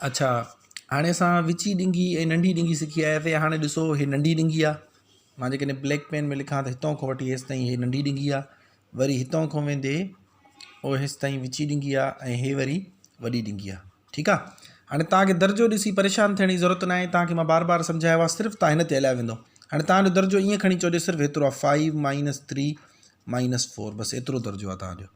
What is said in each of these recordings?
اڇا هاڻي اسان وچي ڏينگي ۽ ننڍي ڏينگي سکي آياسي هاڻي ڏسو هي ننڍي ڏينگي آ مان جي ڪڏهن بليڪ پين ۾ لکان ته هتان کان وٺي هيس تائين هي ننڍي ڏينگي آ وري هتان کان ويندي او هيس تائين وچي ڏينگي آ ۽ هي وري وڏي ڏينگي آ ٺيڪ آ هاڻي توهان کي درجو ڏسي پريشان ٿيڻ جي ضرورت ناهي توهان کي مان بار بار سمجهايو آ صرف توهان هن تي هليا ويندو هاڻي توهان جو درجو ائين کڻي چئو جو صرف هيترو آ five minus three minus four بس ايترو درجو آ توهان جو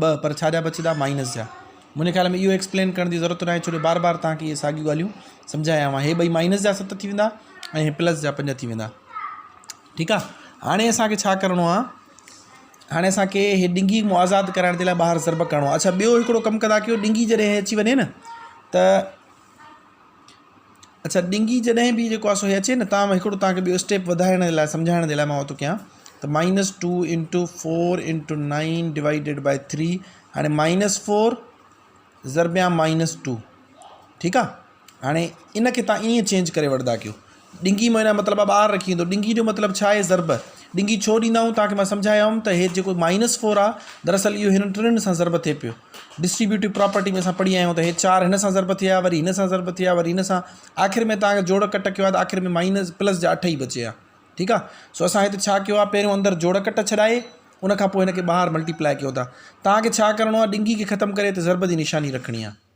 ٻه پر ڇا جا بچدا مائنس جا. منهنجي خيال ۾ اهو ايڪسپلين ڪرڻ جي ضرورت ناهي ڇو جو بار بار توهان کي اهي ساڳيون ڳالهيون سمجهايا آهيون هي ٻئي مائنس جا ست ٿي ويندا ۽ هي پلس جا پنج ٿي ويندا ٺيڪ آهي هاڻي اسان کي ڇا ڪرڻو آهي هاڻي اسان کي هي ڊنگي مون آزاد ڪرائڻ جي لاء ٻاهر ضرب ڪرڻو آهي اچا ٻيو هڪڙو ڪم ڪندا ڪيو ڊنگي جڏهن اچي وڃي نه ته اڇا ڏنگي جڏهن به جيڪو آسو هي اچي نه تان هڪڙو تان کي ٻيو اسٽيپ وڌائڻ جي لاء سمجهائڻ جي لاء مان تو ڪيان ته minus two into four into nine divided by three هاڻي مائنس فور ضربيان مائنس ٽو ٺيڪ آ هاڻي ان کي تان ائين چينج ڪري وٺدا ڪيو ڏنگي معنيٰ مطلب آ ٻاهر رکي ويندو. ڏنگي جو مطلب ڇا آهي ضرب ڏنگي ڇو ڏيندا آهيون توهان کي مان سمجهايو هوم ته هي جيڪو مائنس فور آ دراصل اهو هنن ٽنهن سان ضرب ٿئي پيو ڊسٽريبيوٽيو پراپرٽي ۾ اسان پڙهي آيا آهيون ته هي چار هن سان ضرب ٿيا وري هن سان ضرب ٿيا وري هن سان آخر ۾ توهان کي جوڙ ڪٽ ڪيو آ ته آخر ۾ مائنس پلس جا اٺ ئي بچي آ ٺيڪ آ سو اسان هتي ڇا ڪيو آ پهريون اندر جوڙ ڪٽ ڇڏائي ان کان پوء هن کي ٻاهر ملٽي پلائي ڪيو ٿا توهان کي ڇا ڪرڻو آ ڏنگي کي ختم ڪري هتي ضرب جي نشاني رکڻي آ.